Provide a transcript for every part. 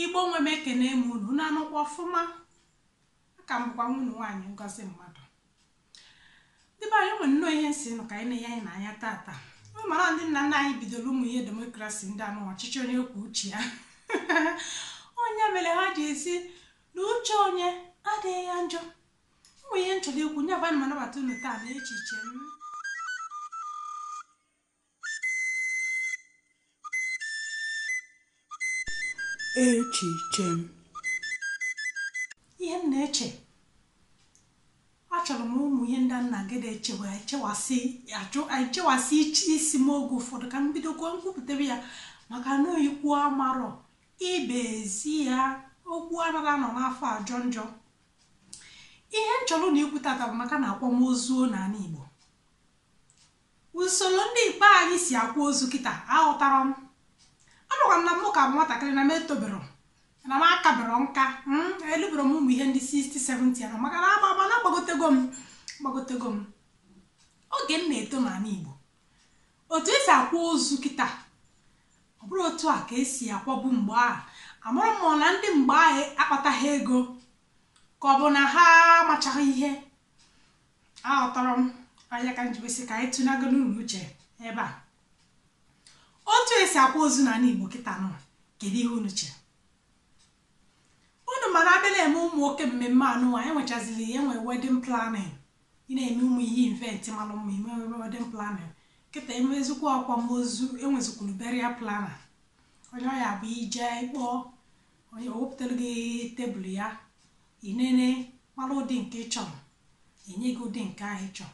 igbo nwe m ekene m unu unu anọkwa ọfụma aka m bụkwa nwa unu nwaanyị ngozi mmadụ ndị be anyị o nwere nnọọ ihe m sị nụ ka anyị na-enye anyị n'anya tata unu mara ndị nna nna anyị bidoro ụmụ ihe demokrasi ndị anụwa ọchịchị onye kwuo uche ya ọ ya mere ha ji asị na uche onye adịghị ya njọ ụmụ ihe m chọrọ ikwu ya bụ ana m anabata unu taa na echiche m echiche m ihe m na-eche achọrọ m ụmụ ihe ndị m na-eji na-echewa echewasị achụ echewasị ichi isi m oge ụfọdụ ka m bidokwa kwupụtebe ya maka na ọ ikwu amarọ ibe ezi ya okwu anaghị anọ n'afọ ajọ njọ ihe m chọrọ na ikwu tata bụ maka na akwamozu n'ala Igbo Usoro ndị be anyị si akwa ozu kịta aghọtarọ m. Amakwa m na mụ ka bụ nwatakịrị na m etobero na m akabero nka mm, elubero m ụmụ ihe ndị 60 70 anọ maka na agba agba na agbagotego m agbagotego m oge m na-eto n'ala Igbo otu esi akwa ozu kịta ọ bụrọ otu a ka esi akwabu mgbe ahụ amarọ m ma na ndị mgbe ahụ akpataghị ego ka ọ bụ na ha amachaghị ihe aghọtarọ m ọ ya ka m ji wee sị ka anyị tụnyekọ ọnụ uche ebe a otu esi akwa ozu n'ala igbo kịta nụwa kedu ihe unu chere unu ma na a bịa na-eme ụmụ oke mmemme anụnwa e nwechaziri ihe nwee wedding planning ị na-eme ụmụ ihe event malụ mma ime wedding planning kịta emezikwa akwamozu enwezikwuru burial planner onye ọ ya-abụ i je kpọọ onye o wepụtara gị tebụl ya Ị nene mara ụdị nke ị chọrọ, enye gị ụdị nke ahụ ị chọrọ.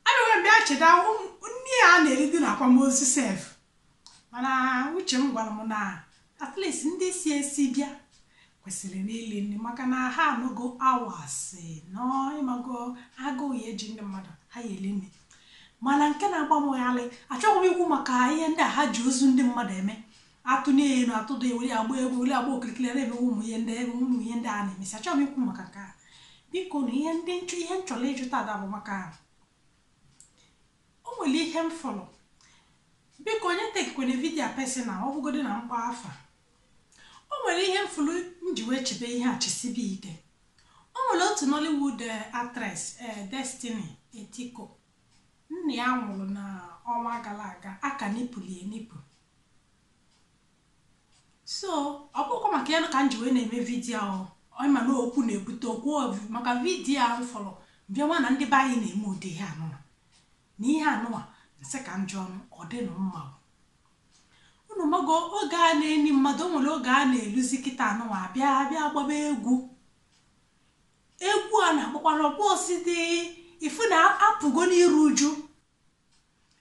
Abịakwa bịa cheta nri a na-eridi na akwamozu sef mana uche m gwara m na at least ndị si esi bịa kwesịrị ili nri maka na ha anọgo hours nọ ị mago agụụ ya-eji ndị mmadụ ha ya-eri nri mana nke na-agba m gharị achọghị m ikwu maka ihe ndị a ha ji ozu ndị mmadụ eme atụnye ya elu atụda ewere ya gbaa egwu were agba okirikiri na-eme ụmụ ihe ndị ebe ụmụ ihe ndị a na-emesi achọghị m ikwu maka nke a biko na ihe ndị nchọ ihe m chọrọ ịjụ tata bụ maka o nwere ihe m fụrụ biko onye takekwana video personal ọ bụgodu na m kpaa afa o nwere ihe m fụrụ m ji wee chebe ihe a chesibe ike o nwere otu nollywood actress destiny etiko nna ya nwụrụ na ọnwa gara aga a ka nipụlụ enipụ so ọ bụkwa maka ya ka m ji wee na-eme vidiyo ahụ ị ma na okwu na-ebute okwu maka vidiyo m fụrụ m bịa ma na ndị be anyị na-eme ụdị ihe anụwa na ihe anụwa m sị ka m jụọ ọ dịnụ mma unu mago oge a na-eni mmadụ o nwere oge a na-eluzi kịta anụwa abịa abịa gbaba egwu egwu a na-akpọkwara ọkpọ osidi ị fụ na apụgo n'iru uju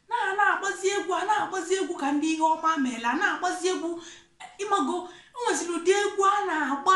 na a na-agbazi egwu a na-agbazi egwu ka ndị ihe ọma meela a na-agbazi egwu ịmago o nweziri ụdị egwu a na-agba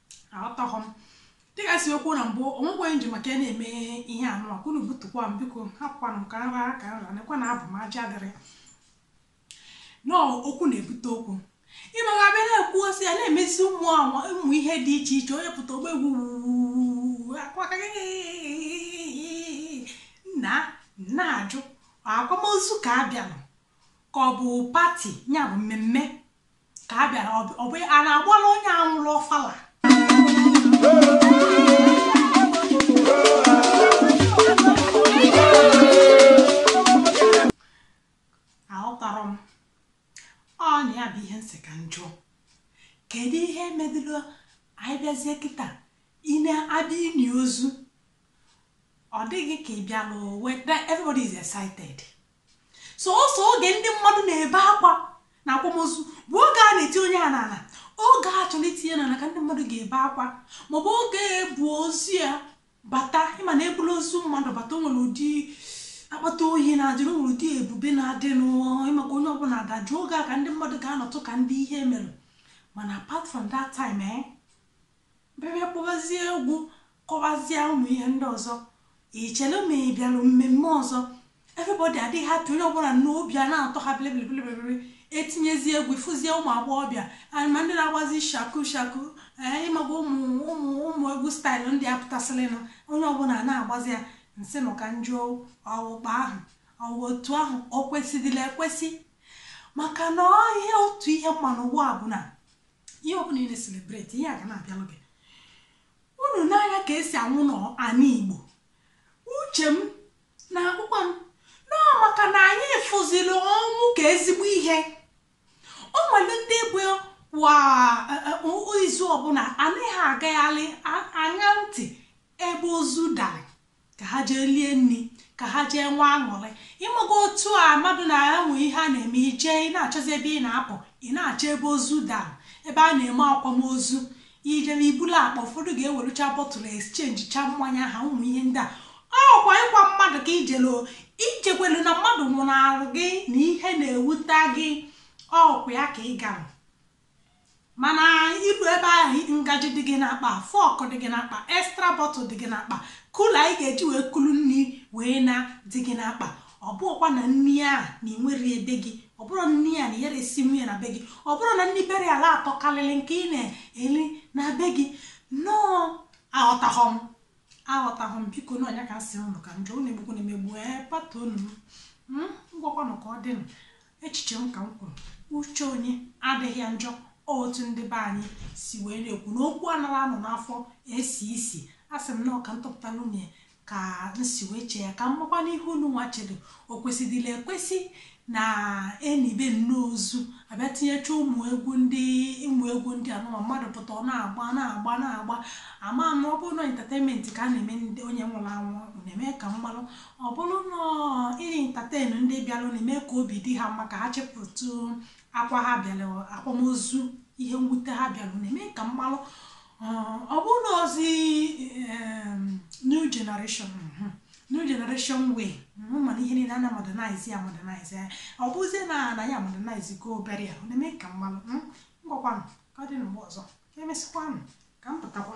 aghọtaghọ m dịka m si kwuo na mbụ o nwekweghị m ji maka ya na-eme ihe anụwa ka unu butukwa m biko hapụkwanụ m ka m ra ka m ra nekwa na abụ m aja dịrị na okwu na-ebute okwu ịmaga abịa na-ekwu e si ya na-emezi ụmụ anwa ụmụ ihe dị iche iche onye pụta ọ gba egwu ọ kwa ka m na-ajụ akwamozu ka a bịalụ ka ọ bụ pati ya bụ mmemme ka a bịara ọ bụ a na-agbara onye a nwụrụ ọfala aghọtarọ m ọ nya bụ ihe m sị ka m jụọ kedu ihe medụlụ anyị bịazie kịta ị na-abịa ini ozu ọ dịghị ka ị bịalụ owe everybody is excited sọsọ oge ndị mmadụ na-ebe akwa na akwamozu bụ oge a na-etinye ya n'ala oge a chọrọ itinye n'ala ka ndị mmadụ ga-ebe akwa maọbụ oge e bu ozu ya bata ị ma na e bulu ozu mmadụ bata o nwere ụdị akpata oyi na-adịrị o nwere ụdị ebube na-adị n'ụwa maka onye ọbụla adajụ oge a ka ndị mmadụ ga-anọtụ ka ndị ihe mere mana apart from that time eh Bịa bịa kpọbazie egwu, kọbazie ụmụ ihe ndị ọzọ. Ị chere ma ị bịara mmemme ọzọ, everybody adị happy, onye ọbụla nnọọ obi a na-atọ ha bilibili etinyezie egwu, ị fụzie ụmụ agbọghọbịa and ma ndị na-agbazi shaku shaku ee ịmago ụmụ ụmụ ụmụ egwu staịlụ ndị a pụtasịrịnụ onye ọbụla a na-agbazi ya m sị nọọ ka m jụọ ọ wụ kpa ahụ ọ wụ otu ahụ o kwesịdịlị ekwesị maka na ọ ihe otu ihe m ma n'ụwa a bụ na ihe ọbụla ị na-eselebreti ihe a ga na-abịalụ gị unu n'anya ka e si anwụ n'ana igbo uche m na-agwakwa m na ọ maka na anyị fụziri ọnwụ ka ezigbo ihe o nwere ndị bụ kwa izu ọbụla ana ha agagharị aṅa ntị ebe ozu dara Ka ha jee lie nri, ka ha jee nwee aṅụrị. Ị mago otu a mmadụ na-enwe ihe a na-eme, i jee, ị na-achọzi ebe ị na-apụ, ị na-achọ ebe ozu dara, ebe a na-eme akwamozu. I jebe, i buru akpa, ụfọdụ ga-ewerucha bottle exchange cha mmanya ha, ụmụ ihe ndị a. Ọ kwa ịkwa mmadụ ka i jere o, i jekwelu na mmadụ nwụnarị gị na ihe na-ewuta gị, ọ kwa ya ka ị gara. Mana i lue ebe ahụ ngaji dị gị n'akpa, fork dị gị n'akpa, extra bottle dị gị n'akpa, cooler ị ga-eji wee kulu nri wee naa dị gị n'akpa. Ọ bụrụkwa na nri a na ị nwere ya be gị, ọ bụrụ nri a na ị yara esinwu ya na be gị, ọ bụrụ na nri be ha na-atọ karịrị nke ị na-eri na be gị, no aghọtaghọ m aghọtaghọ m biko na ọ nya ka m sị ụnụ ka m jụọ ụnụ egbukwana m egbu ee pardon nụ m ngwakwanụ ka ọ dịnụ Echiche m ka m kwuru, uche onye adịghị ya njọ otu ndị be anyị si wee na-ekwu na okwu anara anọ n'afọ esi isi asị m na ọ ka m tụpụtara unu ya ka m si wee chee ya ka m makwanụ ihe unu nwa chelu o kwesịdịla ekwesị na e nibe nnọọ ozu a bịa tinyecha ụmụ egwu ndị ụmụ egwu ndị a nụwa mmadụ pụta ọ na-agba na-agba na-agba ama m ọ bụrụ na entertainment ka a na-eme ndị onye nwụrụ anwụ unu eme ka m malụ Ọ bụrụ na ọ ị entertain ndị bịaranụ mee ka obi dị ha mma ka ha chefutụ akwa ha bịara akwamozu, ihe mwute ha bịara, unu eme ka m malụ ọ bụrụ na ọ zị em, new generation mhm, new generation way mhm, mana ihe niile a na modernize ya modernize ya ọ bụzie na anyị modernize go burial unu eme ka m malụ mm, ngwakwanụ ka ọ dị na mgbe ọzọ ka emesịkwanụ ka m pụtakwa